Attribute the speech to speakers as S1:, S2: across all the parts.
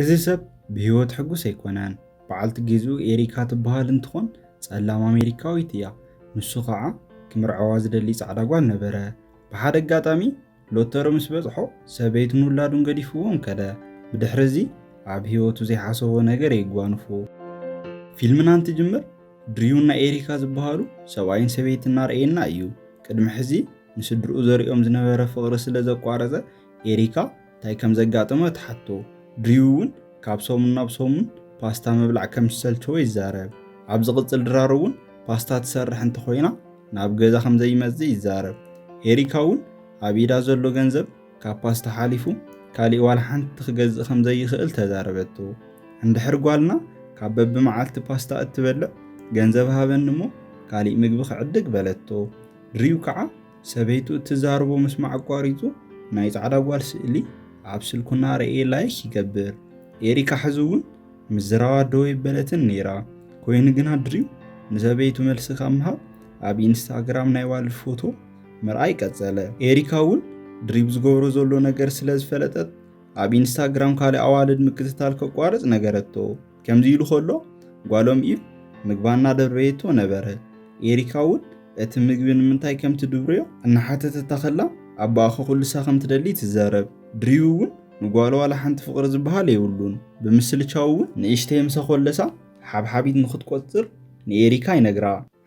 S1: እዚ ሰብ ብህይወት ሕጉስ ኣይኮነን በዓልቲ ጌዝኡ ኤሪካ ትበሃል እንትኾን ፀላም ኣሜሪካዊት እያ ንሱ ኸዓ ክምርዐዋ ዝደሊ ፃዕዳ ጓል ነበረ ብሓደ ኣጋጣሚ ሎቶሪ ምስ በፅሖ ሰበይቱን ውላዱን ገዲፍዎም ከደ ብድሕሪ እዚ ኣብ ህይወቱ ዘይሓሰቦ ነገር የጓንፎ ፊልምና እንትጅምር ድርዩን ናይ ኤሪካ ዝበሃሉ ሰብኣይን ሰበይትን እናርኣየና እዩ ቅድሚ ሕዚ ንስድርኡ ዘሪኦም ዝነበረ ፍቅሪ ስለ ዘቋረፀ ኤሪካ እንታይ ከም ዘጋጠማ ትሓቶ፣ ድሪው እውን ካብ ሰሙን ናብ ሰሙን ፓስታ ምብላዕ ከም ዝሰልቸዎ ይዛረብ። ኣብ ዝቕጽል ድራር እውን ፓስታ ትሰርሕ እንተኾይና ናብ ገዛ ከም ዘይመጽእ ይዛረብ። ኤሪካ እውን ኣብ ኢዳ ዘሎ ገንዘብ ካብ ፓስታ ሓሊፉ ካሊእ ዋላ ሓንቲ ክገዝእ ከም ዘይኽእል ተዛረበቶ። እንድሕር ጓልና ካብ በብመዓልቲ ፓስታ እትበልዕ ገንዘብ ሃበኒ እሞ ካሊእ ምግቢ ክዕድግ በለቶ። ድሪው ከዓ ሰበይቱ እትዛርቦ ምስማዕ ኣቋሪጹ ናይ ጻዕዳ ጓል ስእሊ ኣብ ስልኩ እናረእየ ላይክ ይገብር። ኤሪካ ሕዚ እውን ምዝራባ ደው የበለትን ነይራ። ኮይኑ ግና ድሪም ንሰበይቱ መልሲ ካብ ምሃብ ኣብ ኢንስታግራም ናይ ዋልድ ፎቶ ምርኣይ ቀጸለ። ኤሪካ እውን ድሪብ ዝገብሮ ዘሎ ነገር ስለ ዝፈለጠት ኣብ ኢንስታግራም ካልእ ኣዋልድ ምክትታል ከቋርጽ ነገረቶ። ከምዚ ኢሉ ከሎ ጓሎም ኢቭ ምግባ እናደርበየቶ ነበረ። ኤሪካ እውን እቲ ምግቢ ንምንታይ ከም ትድብርዮ እናሓተተታ ከላ ኣባኣ ከኹልሳ ከም ትደሊ ትዛረብ። ድሪው እውን ንጓሉ ዋላ ሓንቲ ፍቕሪ ዝበሃል የብሉን። ብምስልቻው እውን ንእሽተይ ምስ ኣኾለሳ ሓብሓቢት ንኽትቆጽር ንኤሪካ ይነግራ።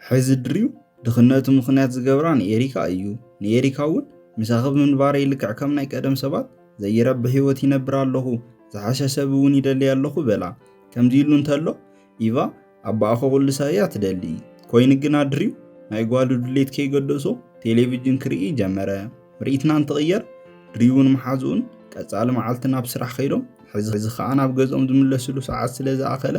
S1: ሕዚ ድሪው ድኽነቱ ምኽንያት ዝገብራ ንኤሪካ እዩ። ንኤሪካ እውን ምሳኺ ብምንባረይ ልክዕ ከም ናይ ቀደም ሰባት ዘይረብሕ ህይወት ይነብር ኣለኹ፣ ዝሓሸ ሰብ እውን ይደልይ ኣለኹ በላ። ከምዚ ኢሉ እንተሎ ኢቫ ኣባኣ ከቑልሳ እያ ትደሊ። ኮይኑ ግና ድሪው ናይ ጓሉ ድሌት ከይገደሶ ቴሌቪጅን ክርኢ ጀመረ። ምርኢትና እንትቕየር ድሪውን መሓዝኡን ቀፃሊ መዓልቲ ናብ ስራሕ ከይዶም ሕዚ ከዓ ናብ ገዝኦም ዝምለስሉ ሰዓት ስለ ዝኣኸለ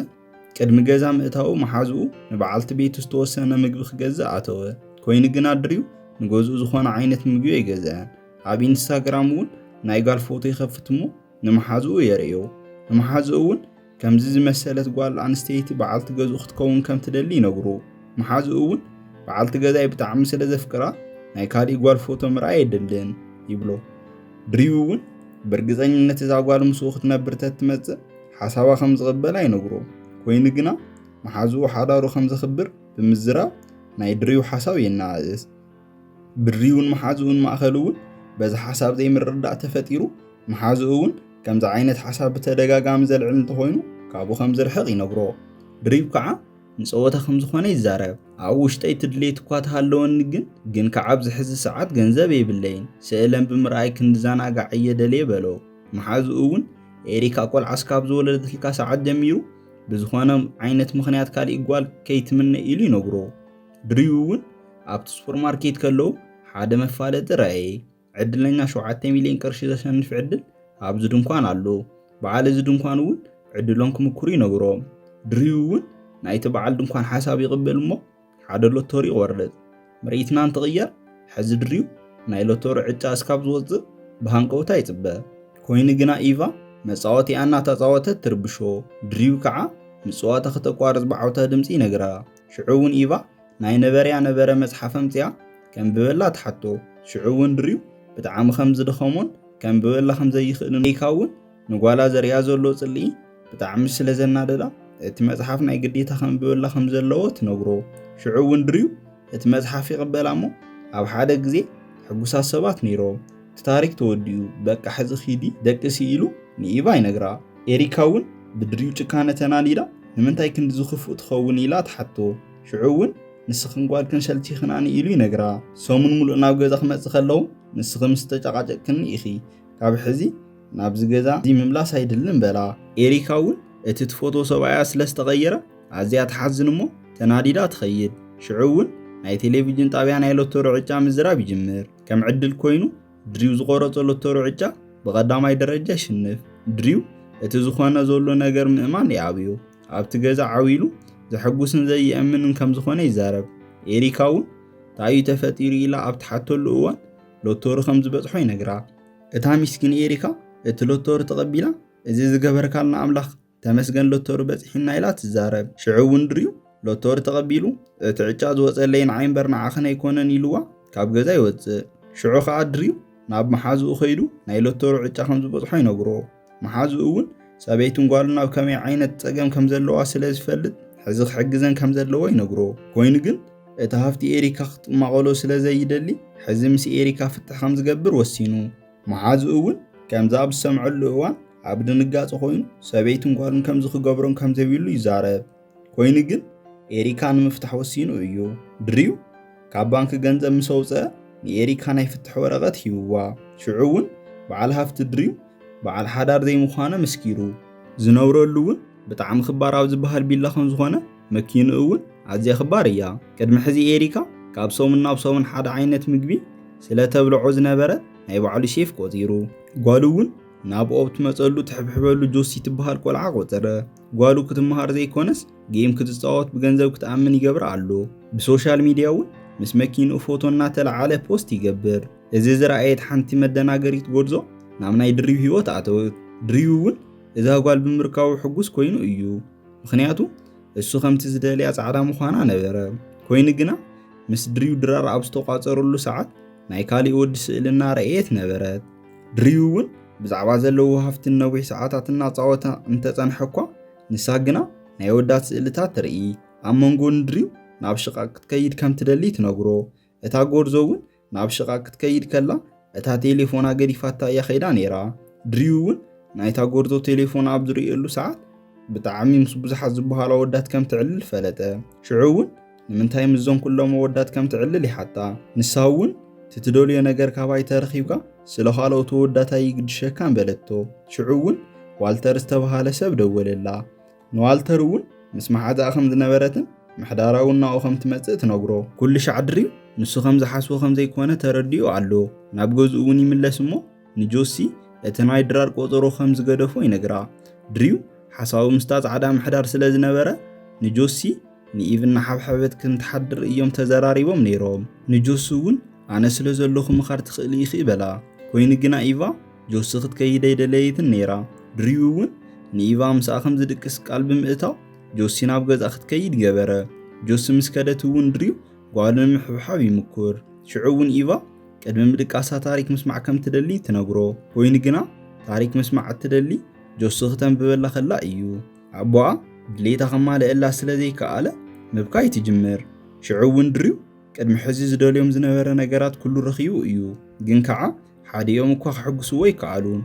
S1: ቅድሚ ገዛ ምእታዉ መሓዝኡ ንበዓልቲ ቤቱ ዝተወሰነ ምግቢ ክገዝእ ኣተወ። ኮይኑ ግና ድሪው ንገዝኡ ዝኾነ ዓይነት ምግቢ ኣይገዝአን። ኣብ ኢንስታግራም እውን ናይ ጋል ፎቶ ይኸፍት እሞ ንመሓዝኡ የርእዮ። ንመሓዝኡ እውን ከምዚ ዝመሰለት ጓል ኣንስተይቲ በዓልቲ ገዝኡ ክትከውን ከም ትደሊ ይነግሩ። መሓዝኡ እውን በዓልቲ ገዛይ ብጣዕሚ ስለ ዘፍቅራ ናይ ካሊእ ጓል ፎቶ ምርኣይ የድልን ይብሎ። ድሪው እውን ብእርግፀኝነት እዛ ጓል ምስኡ ክትነብር ተትመፅእ ሓሳባ ከም ዝቕበላ ይነግሮ። ኮይኑ ግና መሓዝኡ ሓዳሩ ከም ዘኽብር ብምዝራብ ናይ ድሪው ሓሳብ የነኣእስ። ብድሪውን መሓዝኡን ማእኸል እውን በዚ ሓሳብ ዘይምርድዳእ ተፈጢሩ መሓዝኡ እውን ከምዚ ዓይነት ሓሳብ ብተደጋጋሚ ዘልዕል እንተኾይኑ ካብኡ ከም ዝርሕቕ ይነግሮ ድሪብ ከዓ ንፀወታ ከም ዝኾነ ይዛረብ ኣብ ውሽጠይ ትድሌት እኳ ተሃለወኒ ግን ግን ከዓ ኣብዚ ሕዚ ሰዓት ገንዘብ የብለይን ስእለን ብምርኣይ ክንድዘናጋዕ እየ ደልየ በሎ መሓዝኡ እውን ኤሪካ ቆልዓ ስካብ ዝወለደትልካ ሰዓት ጀሚሩ ብዝኾነ ዓይነት ምኽንያት ካሊእ ጓል ከይትምነ ኢሉ ይነግሮ ድሪኡ እውን ኣብቲ ሱፐርማርኬት ከለዉ ሓደ መፋለጢ ረኣየ። ዕድለኛ ሸውዓተ ሚልዮን ቅርሺ ዘሸንፍ ዕድል ኣብዚ ድንኳን ኣሎ። በዓል እዚ ድንኳን እውን ዕድሎም ክምኩሩ ይነግሮም። ድሪኡ እውን ናይቲ በዓል ድንኳን ሓሳብ ይቕበል እሞ ሓደ ሎቶሪ ይቖርጽ። ምርኢትና እንትቕየር ሕዚ ድሪኡ ናይ ሎቶሪ ዕጫ እስካብ ዝወጽእ ብሃንቀውታ ይጽበ። ኮይኑ ግና ኢቫ መጻወቲኣ እናተጻወተት ትርብሾ። ድሪኡ ከዓ ምጽዋታ ክተቋርጽ ብዓውታ ድምጺ ይነግራ። ሽዑ እውን ኢቫ ናይ ነበረያ ነበረ መጽሓፍ ኣምጺኣ ከንብበላ ትሓቶ። ሽዑ እውን ድሪው ብጣዕሚ ከም ዝደኸሞን ከንብበላ ከም ዘይኽእልን ሪካ እውን ንጓላ ዘርእያ ዘሎ ጽልኢ ብጣዕሚ ስለ ዘናደዳ እቲ መጽሓፍ ናይ ግዴታ ከንብበላ ከም ዘለዎ ትነግሮ። ሽዑ እውን ድሪው እቲ መጽሓፍ ይቕበላ እሞ ኣብ ሓደ ግዜ ሕጉሳት ሰባት ነይሮም። እቲ ታሪክ ተወዲኡ በቃ ሕዚ ኪዲ ደቅሲ ኢሉ ንኢቫ ይነግራ። ኤሪካ እውን ብድሪኡ ጭካነ ተናዲዳ ንምንታይ ክንድዚ ክፉእ ትኸውን ኢላ ትሓቶ። ሽዑ እውን ንስኽን ጓልክን ሸልቲኽናኒ ኢሉ ይነግራ። ሰሙን ሙሉእ ናብ ገዛ ክመፅእ ከለኹ ንስኺ ምስ ተጨቃጨቅክኒ ኢኺ ካብ ሕዚ ናብዚ ገዛ እዚ ምምላስ ኣይድልን በላ። ኤሪካ እውን እቲ ትፈትዎ ሰብኣያ ስለዝተቀየረ ኣዝያ ትሓዝን እሞ ተናዲዳ ትኸይድ። ሽዑ እውን ናይ ቴሌቭዥን ጣብያ ናይ ሎቶሪ ዕጫ ምዝራብ ይጅምር። ከም ዕድል ኮይኑ ድሪው ዝቆረጾ ሎተሩ ዕጫ ብቐዳማይ ደረጃ ይሽንፍ። ድሪው እቲ ዝኾነ ዘሎ ነገር ምእማን ይኣብዮ። ኣብቲ ገዛ ዓው ኢሉ ዘሐጉስን ዘይእምንን ከም ዝኾነ ይዛረብ። ኤሪካ እውን ታዩ ተፈጢሩ ኢላ ኣብ ትሓተሉ እዋን ሎተሩ ከም ዝበጽሖ ይነግራ። እታ ሚስኪን ኤሪካ እቲ ሎተሩ ተቐቢላ እዚ ዝገበርካልና ኣምላኽ ተመስገን ሎቶሪ በጺሒና ኢላ ትዛረብ። ሽዑ እውን ድርኡ ሎቶሪ ተቐቢሉ እቲ ዕጫ ዝወጸለይ ንዓይ እምበር ንዓኽን ኣይኮነን ኢሉዋ ካብ ገዛ ይወጽእ። ሽዑ ከኣ ድርኡ ናብ መሓዝኡ ከይዱ ናይ ሎቶሪ ዕጫ ከም ዝበጽሖ ይነግሮ። መሓዝኡ እውን ሰበይቱን ጓሉን ኣብ ከመይ ዓይነት ጸገም ከም ዘለዋ ስለ ዝፈልጥ ሕዚ ክሕግዘን ከም ዘለዎ ይነግሮ። ኮይኑ ግን እቲ ሃፍቲ ኤሪካ ክትማቐሎ ስለ ዘይደሊ ሕዚ ምስ ኤሪካ ፍትሕ ከም ዝገብር ወሲኑ። መሓዝኡ እውን ከምዚ ኣብ ዝሰምዐሉ እዋን ኣብ ድንጋጸ ኮይኑ ሰበይትን ጓሉን ከምዚ ክገብሮም ከም ዘይብሉ ይዛረብ። ኮይኑ ግን ኤሪካ ንምፍታሕ ወሲኑ እዩ። ድሪው ካብ ባንኪ ገንዘብ ምስ ኣውጽአ ንኤሪካ ናይ ፍትሕ ወረቐት ሂብዋ። ሽዑ እውን በዓል ሃፍቲ ድሪው በዓል ሓዳር ዘይምዃነ መስኪሩ። ዝነብረሉ እውን ብጣዕሚ ክባር ኣብ ዝበሃል ቢላ ከም ዝኾነ መኪኑ እውን ኣዝያ ክባር እያ። ቅድሚ ሕዚ ኤሪካ ካብ ሰሙን ናብ ሰሙን ሓደ ዓይነት ምግቢ ስለ ተብልዖ ዝነበረ ናይ ባዕሉ ሼፍ ቆጺሩ። ጓሉ እውን ናብ ኦብ ትመጸሉ ትሕብሕበሉ ጆሲ ትብሃል ቆልዓ ቆጸረ። ጓሉ ክትመሃር ዘይኮነስ ጌም ክትጻወት ብገንዘብ ክትኣምን ይገብራ ኣሎ። ብሶሻል ሚድያ እውን ምስ መኪንኡ ፎቶ እናተለዓለ ፖስት ይገብር። እዚ ዝረኣየት ሓንቲ መደናገሪት ጎርዞ ናብ ናይ ድሪብ ህይወት ኣተወት። ድሪብ እውን እዛ ጓል ብምርካቡ ሕጉስ ኮይኑ እዩ። ምክንያቱ እሱ ከምቲ ዝደልያ ጻዕዳ ምዃና ነበረ ኮይኑ ግና ምስ ድርዩ ድራር ኣብ ዝተቋጸረሉ ሰዓት ናይ ካሊእ ወዲ ስእሊ እናረእየት ነበረት ድርዩ እውን ብዛዕባ ዘለዎ ሃፍቲ ነዊሕ ሰዓታት እናጻወተ እንተጸንሐ እኳ ንሳ ግና ናይ ወዳት ስእልታት ትርኢ ኣብ መንጎ ንድርዩ ናብ ሽቓቕ ክትከይድ ከም ትደሊ ትነግሮ እታ ጎርዞ እውን ናብ ሽቓ ክትከይድ ከላ እታ ቴሌፎና ገዲፋታ እያ ከይዳ ነይራ። ድርዩ እውን ናይታ ጎርዞ ቴሌፎን ኣብ ዝርእየሉ ሰዓት ብጣዕሚ ምስ ብዙሓት ዝበሃሉ ኣወዳት ከም ትዕልል ፈለጠ። ሽዑ እውን ንምንታይ ምስዞም ኩሎም ኣወዳት ከም ትዕልል ይሓታ። ንሳ እውን እቲ ትደልዮ ነገር ካባይ ተረኺብካ ስለ ካልኦት ኣወዳት ኣይግድሸካን በለቶ። ሽዑ እውን ዋልተር ዝተበሃለ ሰብ ደወለላ። ንዋልተር እውን ምስ መሓዛኣ ከም ዝነበረትን ምሕዳራ እውን ናብኡ ከም ትመጽእ ትነግሮ። ኩልሻዕ ድሪም ንሱ ከም ዝሓስቦ ከም ዘይኰነ ተረዲኡ ኣሎ። ናብ ገዝኡ እውን ይምለስ እሞ ንጆሲ እቲ ናይ ድራር ቆጸሮ ከም ዝገደፎ ይነግራ። ድሪው ሓሳቡ ምስታ ጻዕዳ ምሕዳር ስለ ዝነበረ ንጆሲ ንኢቭ እናሓብሐበት ከም ትሓድር እዮም ተዘራሪቦም ነይሮም። ንጆሲ እውን ኣነ ስለ ዘለኹ ምኻድ ትኽእሊ ኢኺ በላ። ኰይኑ ግና ኢቫ ጆሲ ክትከይድ ኣይደለየትን ነይራ። ድሪኡ እውን ንኢቫ ምስኣ ከም ዝድቅስ ቃል ብምእታው ጆሲ ናብ ገዝኣ ክትከይድ ገበረ። ጆሲ ምስ ከደት እውን ድሪው ጓሉ ንምሕብሓብ ይምኩር። ሽዑ እውን ኢቫ ቅድሚ ምድቃሳ ታሪክ ምስማዕ ከም ትደሊ ትነግሮ። ኮይኑ ግና ታሪክ ምስማዕ እትደሊ ጆሲ ክተንብበላ ከላ እዩ። ኣቦኣ ድሌታ ከማልእላ ስለ ዘይከኣለ ምብካይ ትጅምር። ሽዑ እውን ድሪው ቅድሚ ሕዚ ዝደልዮም ዝነበረ ነገራት ኩሉ ረኺቡ እዩ። ግን ከዓ ሓዲኦም እኳ ክሕግስዎ ኣይከኣሉን።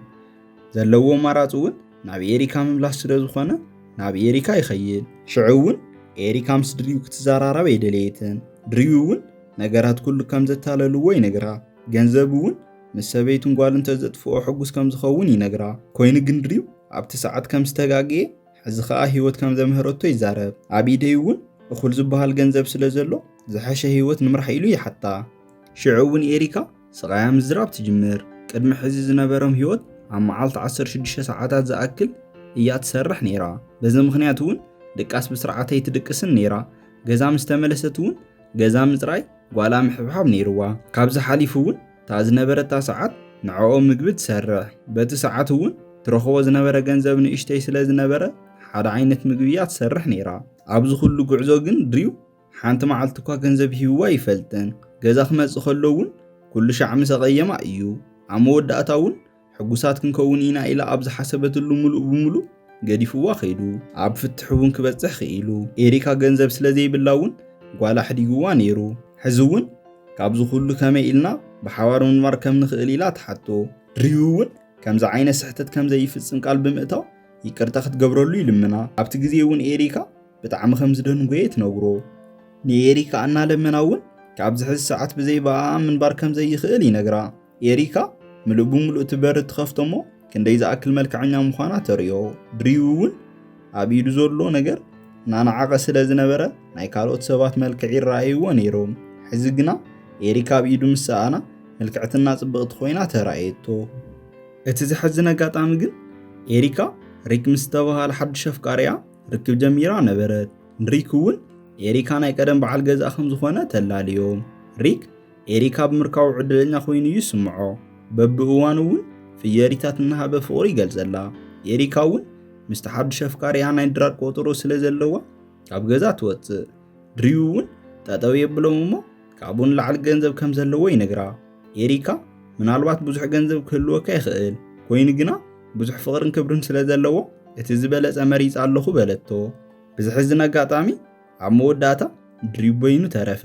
S1: ዘለዎ ኣማራፂ እውን ናብ ኤሪካ ምምላስ ስለ ዝኾነ ናብ ኤሪካ ይኸይድ። ሽዑ እውን ኤሪካ ምስ ድሪው ክትዘራረብ ኣይደለየትን። ድሪው እውን ነገራት ኩሉ ከም ዘታለልዎ ይነግራ። ገንዘብ እውን ምስ ሰበይቱን ጓሉ እንተዘጥፍኦ ሕጉስ ከም ዝኸውን ይነግራ። ኮይኑ ግን ድሪው ኣብቲ ሰዓት ከም ዝተጋገየ ሕዚ ከዓ ህይወት ከም ዘምህረቶ ይዛረብ። ኣብ ኢደይ እውን እኹል ዝበሃል ገንዘብ ስለ ዘሎ ዝሐሸ ህይወት ንምራሕ ኢሉ ይሓታ። ሽዑ እውን ኤሪካ ስቓያ ምዝራብ ትጅምር። ቅድሚ ሕዚ ዝነበሮም ህይወት ኣብ መዓልቲ 16 ሰዓታት ዝኣክል እያ ትሰርሕ ነይራ። በዚ ምኽንያት እውን ድቃስ ብስርዓት ኣይትድቅስን ነይራ። ገዛ ምስ ተመለሰት እውን ገዛ ምፅራይ ጓላ ምሕብሓብ ነይርዋ። ካብዚ ሓሊፉ እውን እታ ዝነበረታ ሰዓት ንዕኦም ምግቢ ትሰርሕ። በቲ ሰዓት እውን ትረኽቦ ዝነበረ ገንዘብ ንእሽተይ ስለ ዝነበረ ሓደ ዓይነት ምግቢ እያ ትሰርሕ ነይራ። ኣብዚ ኩሉ ጉዕዞ ግን ድሪው ሓንቲ መዓልቲ እኳ ገንዘብ ሂብዋ ኣይፈልጥን። ገዛ ክመጽእ ከሎ እውን ኩሉ ሻዕ ምስ ኣቐየማ እዩ። ኣብ መወዳእታ እውን ሕጉሳት ክንከውን ኢና ኢላ ኣብ ዝሓሰበትሉ ምሉእ ብምሉእ ገዲፍዋ ከይዱ። ኣብ ፍትሕ እውን ክበጽሕ ክኢሉ። ኤሪካ ገንዘብ ስለ ዘይብላ እውን ጓላ ኣሕዲግዋ ነይሩ። ሕዚ እውን ካብዚ ኩሉ ከመይ ኢልና ብሓባር ምንባር ከም ንኽእል ኢላ ትሓቶ። ድሪው እውን ከምዚ ዓይነት ስሕተት ከም ዘይፍጽም ቃል ብምእታው ይቅርታ ክትገብረሉ ይልምና። ኣብቲ ግዜ እውን ኤሪካ ብጣዕሚ ከም ዝደንጎየ ትነግሮ። ንኤሪካ እናለመና እውን ካብ ዝሕዚ ሰዓት ብዘይ ብኣ ምንባር ከም ዘይኽእል ይነግራ። ኤሪካ ምሉእ ብምሉእ እቲ በሪ ትኸፍቶ እሞ ክንደይ ዝኣክል መልክዐኛ ምዃና ተርእዮ። ድሪው እውን ኣብ ኢዱ ዘሎ ነገር እናነዓቐ ስለ ዝነበረ ናይ ካልኦት ሰባት መልክዕ ይረኣይዎ ነይሮም። ሕዚ ግና ኤሪካ ኣብ ኢዱ ምስ ሰኣና ምልክዕትና ጽብቕቲ ኮይና ተራእየቶ። እቲ ዘሕዝን ኣጋጣሚ ግን ኤሪካ ሪክ ምስ ዝተባህለ ሓድሽ ኣፍቃሪኣ ርክብ ጀሚራ ነበረት። ንሪክ እውን ኤሪካ ናይ ቀደም በዓል ገዛእ ከም ዝኾነ ተላልዮም። ሪክ ኤሪካ ብምርካቡ ዕድለኛ ኮይኑ እዩ ዝስምዖ። በብእዋኑ እውን ፍየሪታት እናሃበ ፍቕሩ ይገልጸላ። ኤሪካ እውን ምስቲ ሓድሽ ኣፍቃሪኣ ናይ ድራር ቆጠሮ ስለ ዘለዋ ካብ ገዛ ትወጽእ። ድሪው እውን ጠጠው የብሎም እሞ ካብኡ ንላዕሊ ገንዘብ ከም ዘለዎ ይነግራ። ኤሪካ ምናልባት ብዙሕ ገንዘብ ክህልወካ ይኽእል፣ ኮይኑ ግና ብዙሕ ፍቕርን ክብርን ስለ ዘለዎ እቲ ዝበለጸ መሪጸ ኣለኹ በለቶ። ብዝሕዝን ኣጋጣሚ ኣብ መወዳእታ ድሪብ በይኑ ተረፈ።